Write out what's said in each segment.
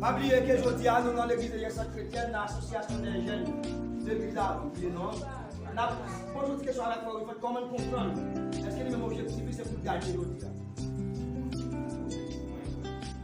Pa bliye ke jodi a nou nan legliz Eyè Sant Kretyèn nan asosyasyon dè jèn legliz la ou byen non nap poze yon ti kesyon avèk frè Wilfred kòman li konprann èske li menm objektif li se poul gaye jodi a?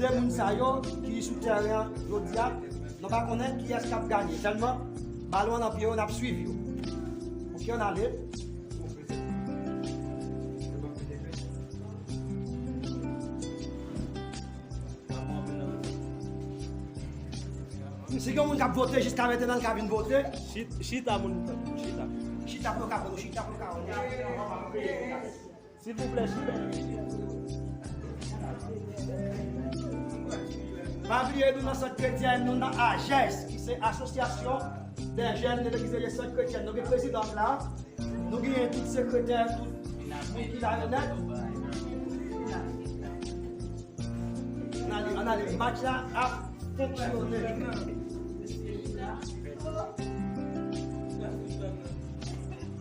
2 moun sa yo ki sou tèren an jodia nou pa konnen kiyès kap ganye tèlman balon an nan pye yo nap swiv yo ok ann ale. Si gen moun kap vote jiska mentena l ka vin vote. Chita moun chita. Chita pou yo ka konnen. Silvouplè chifè yo chifè yo. Pa bliye nou nan sant kretyen nou nan AJES ki se asosyasyon dè jèn de legliz de sant kretyen nou gen prezidans la nou genyen tout sekretè tout moun ki la yo nèt ann ale match la ap fonksyone.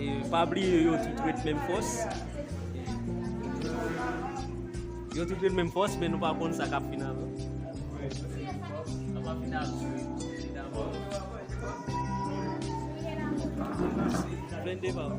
E pa bliye yo tout ret menm fòs. Yo tout ret menm fòs men nou pa konn sa kap fin avè. Plende pa ou.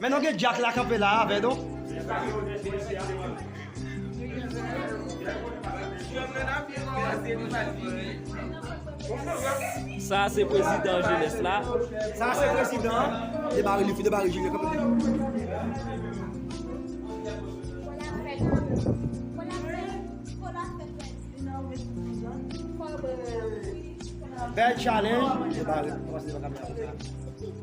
Men non gen dyak la kanpe la avè nou. Sa a se prezidan jenès la. Sa a se prezidan. Debare li fi debare junior kanpe li. Bèl challenge. Debare komanse devan kamera.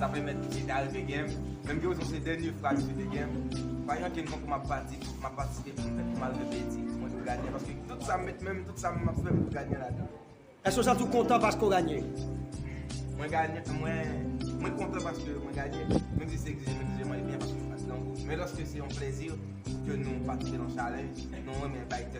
Sa pèmèt misye te arete gèm, menm ke ozon se dènye fwa misye te gèm. Vanyan ke m tankou m ap pati, m ap patisipe pou m fèt pou m al repeti pou mwen te ganyan, paske tout sa m met men m, tout sa m ap fè m dwe ganyan ladan l. Èske w santi w kontan paske w ganyan? Mwen ganyan, mwen kontan paske mwen ganyan, menm si se egzije m egzije mwen e byen paske se pa ti grangou. Men lòske se yon plezi ke nou patisipe nan chalèj, nou renmen bay tèt nou.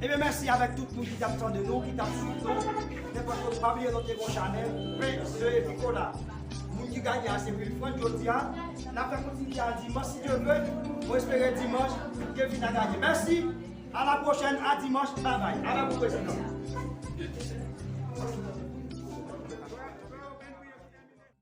Ebyen mèsi avèk tout moun ki tap tande nou, ki tap swiv nou, nenpòt kote, pa bliye nou te gen yon chanèl Pain de Nicolas moun ki gagne a se Wilfrand jodia nap fè kontinite a dimanch si Dieu veut mwen espere dimanch Kevin a gagne mèsi a la pwochèn a dimanch bye bye avèk ou prezidan.